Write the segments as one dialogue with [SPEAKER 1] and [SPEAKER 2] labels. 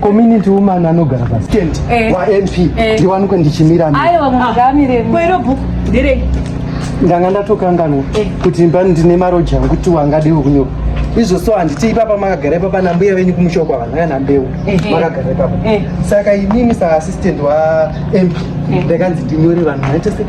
[SPEAKER 1] community woman anogara pastand eh. wanp eh. ndiwanikwe ndichimira book nderei ndanga ndatokanganwa eh. kuti mba ndine maroji angu kuti wangadewo kunyora izvo so handiti ipapa makagara ipapa nambuya venyu kumusha kwa vanhu kana mbeu makagara ipapa saka inini saassistant wamp ndakanzi ndinyore vanhu vaitese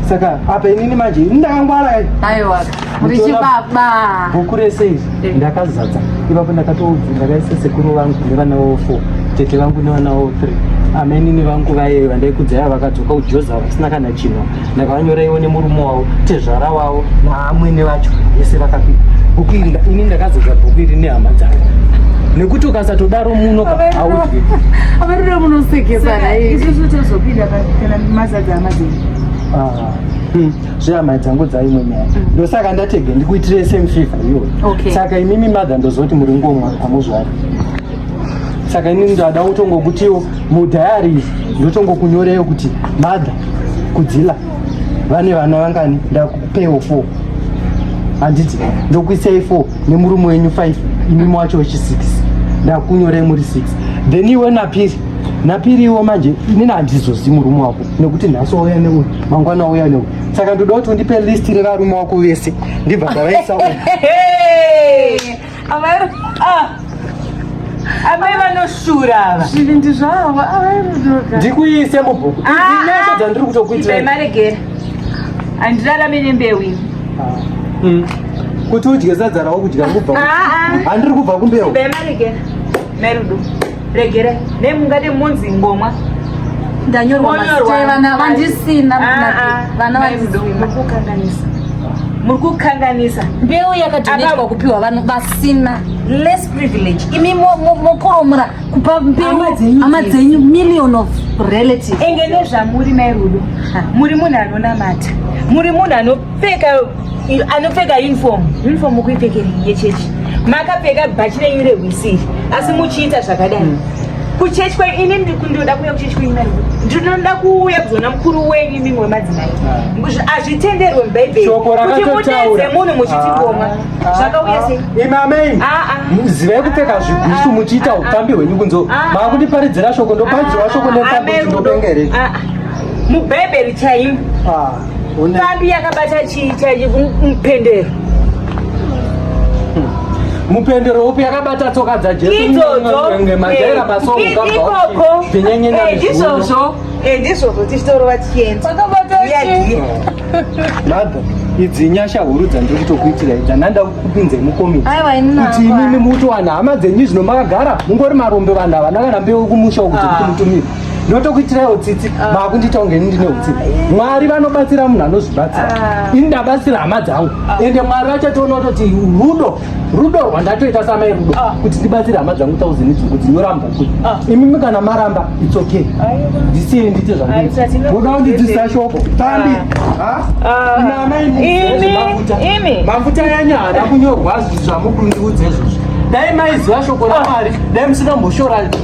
[SPEAKER 1] saka apa inini manje ini ndakangwara aiwa richibaba bhuku rese izvi eh. ndakazadza ipapo ndakatoudzi ndakaisa sekuru vangu nevana vavo four tete vangu nevana vavo three amainini vangu vaye vandaikudzaya vakadzoka kujoza vasina kana chinwa ndakavanyoraiwo nemurume wavo tezvara wavo naamwene vacho vese vakapika bhuku iri ini ndakazodza bhuku iri nehama dzangu nekuti ukasatodaro muno haudye avarira munosekesana izvi zvitozopinda kana mazadza amazii zvehama dzangu dzaimwe nyaya mm. ndosaka ndatege ndikuitire same favor iyoyo okay. saka imimi mother ndozoti muri ngomwa hamuzvari saka ini ndada kutongokutiwo mudhayari ndotongokunyoreyo kuti mother kudzila vane vana vangani ndakupewo four handiti ndokuisai four nemurume wenyu five imimi wacho wechi six ndakunyorei muri six then iwe napiri napiriwo manje inini handizozi murume wako nekuti nhasi wauya neuyu mangwana wauya neuyu saka ndoda kuti undipe list revarume wako vese ndibva ndavaisa amai vanoshura ava zvivindi zvavo avairudoka ndikuise mubhuku inesho dzandiri kutokuitimaregera handirarame nembeu iyi hmm. kuti udye sadza rawo kudya kubva handiri kubva kumbeu bemaregera merudo regera ne mungade monzi ngomwa ndanyorwa mazitevana vandisina ah, ah. vana vandizomukukanganisa muri kukanganisa mbeu yakadonetwa kupiwa vanhu vasina less privilege imi mokoromora kupa mbeu hama dzenyu million of relative enge nezvamuri mai rudo muri munhu anonamata muri munhu anopfeka anopfeka uniform uniform kuipfekeri yechechi makapfeka bhachi renyu rehwisiri asi muchiita zvakadai hmm. kuchechi kwe ini ndikunoda kuuya kuchechi kwenyu ndinoda kuuya kuzoona mukuru wenyu imimi wemadzimai ah. hazvitenderwe mubhaibheri kuti mudedze munhu muchitigoma ah. zvakauya sei ah. imamei zivai kupfeka zvigusu muchiita upfambi hwenyu kunzo maakundiparidzira shoko ndoparidzirwa shoko nepfambi ndopengere mubhaibheri chaimo Papi yakabata chii chaichi mupendero? mupendero upi yakabata tsoka dzajesumajaira masoko ikoko ndizvozvo ndizvozvo tichitorova tichienda madha idzi nyasha huru dzandiri kutokuitira idza ndanda kupinzai mukomiti kuti imimi mutowana hama dzenyu zvino makagara mungori marombe vanhu havana kana mbeu kumusha uku dzekuti mutumire ndotokuitiraiwo tsitsi ah. makundiita kunge ini ndine utsitsi ah, mwari vanobatsira munhu anozvibatsira ah. ini ndabatsira hama dzangu ende mwari vachatoona kutoti rudo rudo rwandatoita samai rudo kuti ndibatsire hama dzangu tauzini dzungu dzinyoramba kuti imimi kana maramba its okay ndisiye ndiite zvangoda kundidzisa shoko tambi mafuta yanyu haana kunyorwa zvamukundiudza izvozvo dai maiziva shoko ramwari dai musingamboshora